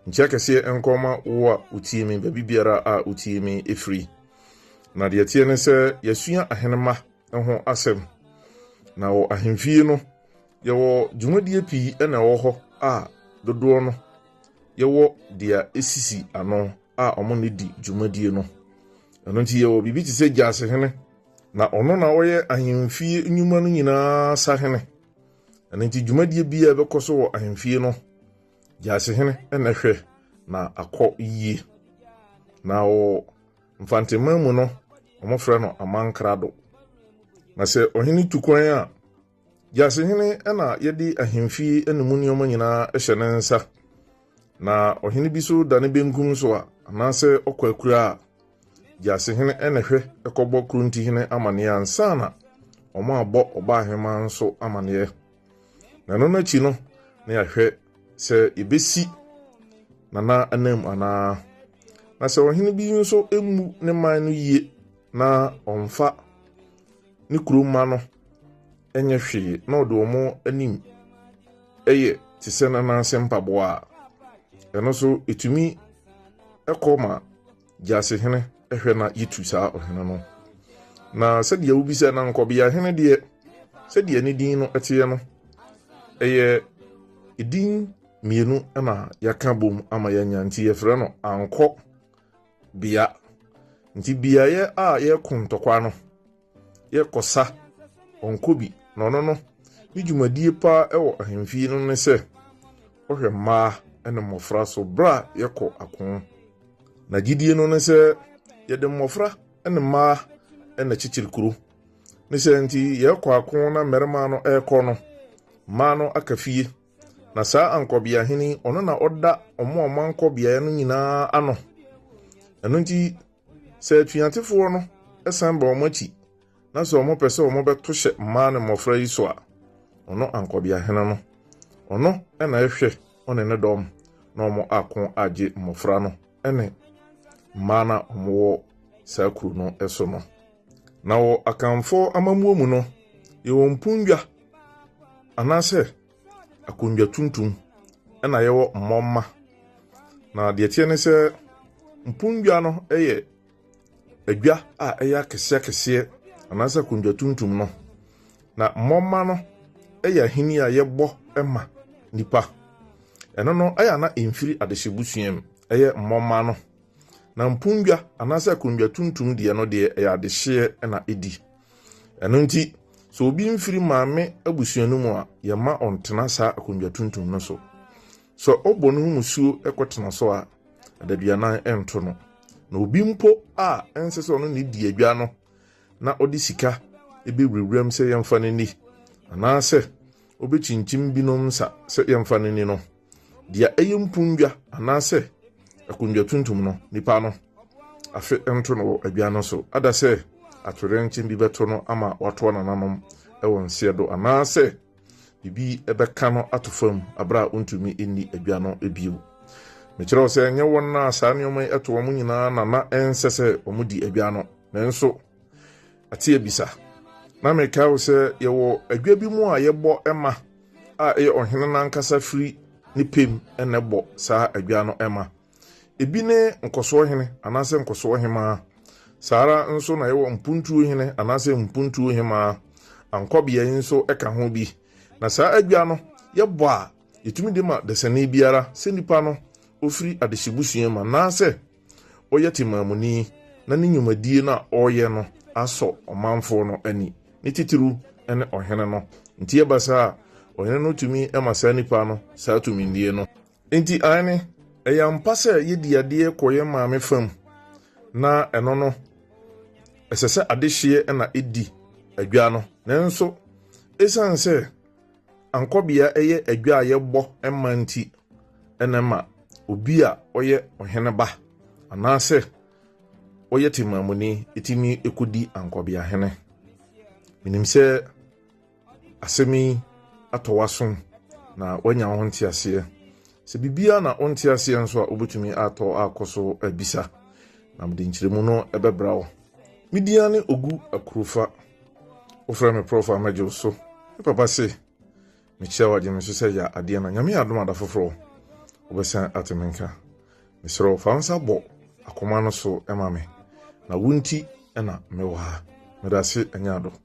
Nkyea kɛseɛ nkɔ ma wo a wotie me baabi biara a wotie me firi. Na deɛ ɛteɛ ne sɛ yɛasua ahenemma ho asɛm. Na wɔ ahemfie no, yɛwɔ dwumadie pii na ɛwɔ hɔ a dodoɔ no yɛwɔ deɛ ɛsisi ano a wɔn na ɛdi dwumadie no. Ɛno nti yɛwɔ biribi te sɛ gyasehene. Na ɔno na ɔyɛ ahemfie nnwuma no nyinaa sahene. Ɛno nti dwumadie biara ɛbɛkɔ so wɔ ahemfie no, Gyasehene na ɛhwɛ na akɔ yie. Na wɔ Mfanteman mu no, wɔfrɛ no Amankrado. Na sɛ ɔhene tu kwan a, Gyasehene na yɛde ahemfie ne mu nneɛma nyinaa hyɛ ne nsa. Na ɔhene bi so da ne benkum so a, anaasɛ ɔkɔ akura a, Gyasehene na ɛhwɛ kɔbɔ Kurontihene amaneɛ ansa na wɔabɔ Ɔbaaheman nso amaneɛ. na ɛno no akyi no na yɛahwɛ sɛ yɛbɛsi nana anam anaa na sɛ ɔhene bi nso mmu ne man no yie na ɔmfa ne kuro mma no nyɛ hwee na ɔde wɔn anim yɛ te sɛ nana ase mpaboa a ɛno nso ɛtumi kɔ ma Gyasi hene hwɛ na yitu saa ɔhene no. Na sɛdeɛ wobisa na nkɔbea hene deɛ, sɛdeɛ ne din no teɛ no, ɛyɛ edin mmienu na yɛaka bom ama yɛanya nti yɛfrɛ no ankɔ bea. Nti beaeɛ a yɛko ntɔkwa no, yɛ kɔsa ɔnkɔ bi na ɔno no ne dwumadie paa wɔ ahemfie no ne sɛ ɔhwɛ mmaa ne mmɔfra so berɛ a yɛkɔ ako. Na gyidie no ne sɛ yɛde mmɔfra ne mmaa na kyekyere kuro. Ne sɛ nti yɛkɔ ako na mmarima no rekɔ no, mmaa no aka fie. Na saa ankɔbea hene ɔno na ɔda ɔmo a ɔmo ankɔ beaeɛ no nyinaa ano. Ɛno nti Sɛ atuatefoɔ no san ba wɔn akyi na sɛ wɔpɛ sɛ wɔbɛto hyɛ mmaa ne mmɔfra yi so a, ɔno ankɔbeahene no, ɔno na ɛhwɛ ɔne ne dɔm na wɔn ako agye mmɔfra no ne mmaa no a wɔwɔ saa kuro no so no. Na wɔ Akanfoɔ amammuo mu no, yɛwɔ mpondwa anaasɛ akonnwa tuntum na yɛwɔ mmɔmma. Na deɛ ɛteɛ ne sɛ mponnwa no yɛ adwa a ɛyɛ akɛseɛ akɛseɛ anaasɛ akonnwa tuntum no. Na mmɔmma no yɛ ahini a yɛbɔ ma nnipa. Ɛno no ɛyɛ ana mfiri adehyɛbusua mu ɛyɛ mmɔmma no. Na mponnwa anaasɛ akonnwa tuntum deɛ no deɛ ɛyɛ adehyeɛ na ɛdi. Ɛno nti, sɛ obi mfiri maame abusua no mu a, yɛmma ɔntena saa akonnwa tuntum no so. Sɛ ɔbɔ ne ho musuo kɔtena so a, adaduanan nto no. Na obi mpo a ɛnsɛ sɛ ɔno ne di adwa no na ɔde sika bɛwurawuram sɛ yɛmfa no nni, anaasɛ ɔbɛkyinkyim binom nsa sɛ yɛmfa no nni no, Deɛ ɛyɛ mpondwa anaasɛ akondwa tuntum no, nipa no afe nto no wɔ adwa no so. Ada sɛ atoyerɛnkyen bi bɛto no ama watoa nananom wɔ nseɛ do anaasɛ biribi bɛka no ato fam berɛ a ɔntumi nni adwa no bio. Mekyerɛ wo sɛ, ɛnyɛ wɔn a saa nneɛma yi to wɔn nyinaa na na ɛnsɛ sɛ wɔdi adwa no, nanso, ate abisa na mekae wo sɛ yɛwɔ adwa bi mu a yɛbɔ ɛma a ɛyɛ ɔhene no ankasa firi ne pɛm na ɛbɔ saa adwa no ɛma ebi ne nkɔsoɔ hene anaasɛ nkɔsoɔ hemaa saa ara nso na yɛwɔ mpuntuo hene anaasɛ mpuntuo hemaa ankɔbeɛ nso ɛka ho bi na saa adwa no yɛbɔ a yɛtumi de ma dasani biara sɛ nipa no ofiri adehyebusua mu anaasɛ Ɔyɛ temammuni na ne nnwumadie no a ɔreyɛ no asɔ ɔmanfoɔ no ani, ne titiriw ne ɔhene no. Enti ɛba saa a, ɔhene no tumi ma saa nipa no saa tumidie no. Enti aane, ɛyɛ ampa sɛ yɛdi adeɛ kɔ yɛn maame fam, na ɛno no, ɛsɛ sɛ adehyeɛ na ɛdi adwa no. Nanso, ɛsiane sɛ Ankɔbea yɛ adwa a yɛbɔ ma nti na ɛma obi a ɔyɛ ɔhene ba anaasɛ ɔyɛ temammuni tumi kɔdi ankɔbeahene. Menim sɛ asɛm yi atɔ w'asom na woanya ho nteaseɛ. Sɛ biribiara na wonte aseɛ nso a, wobɛtumi atɔ akɔ so abisa na mede nkyerɛmu no ɛbɛbra wo. Me din ane Ogu Akurofa. Wofrɛ me Prɔfo a mɛgye wo so. Me papa se, mekyia wo agye me so sɛ yɛ adeɛ na Nyame adom ada foforɔ wobɛsan ate me nka. Mesrɛ wo fa wo nsa bɔ akoma no so ma me na wo nti na mewɔ ha. Meda ase ɛnyɛ ado.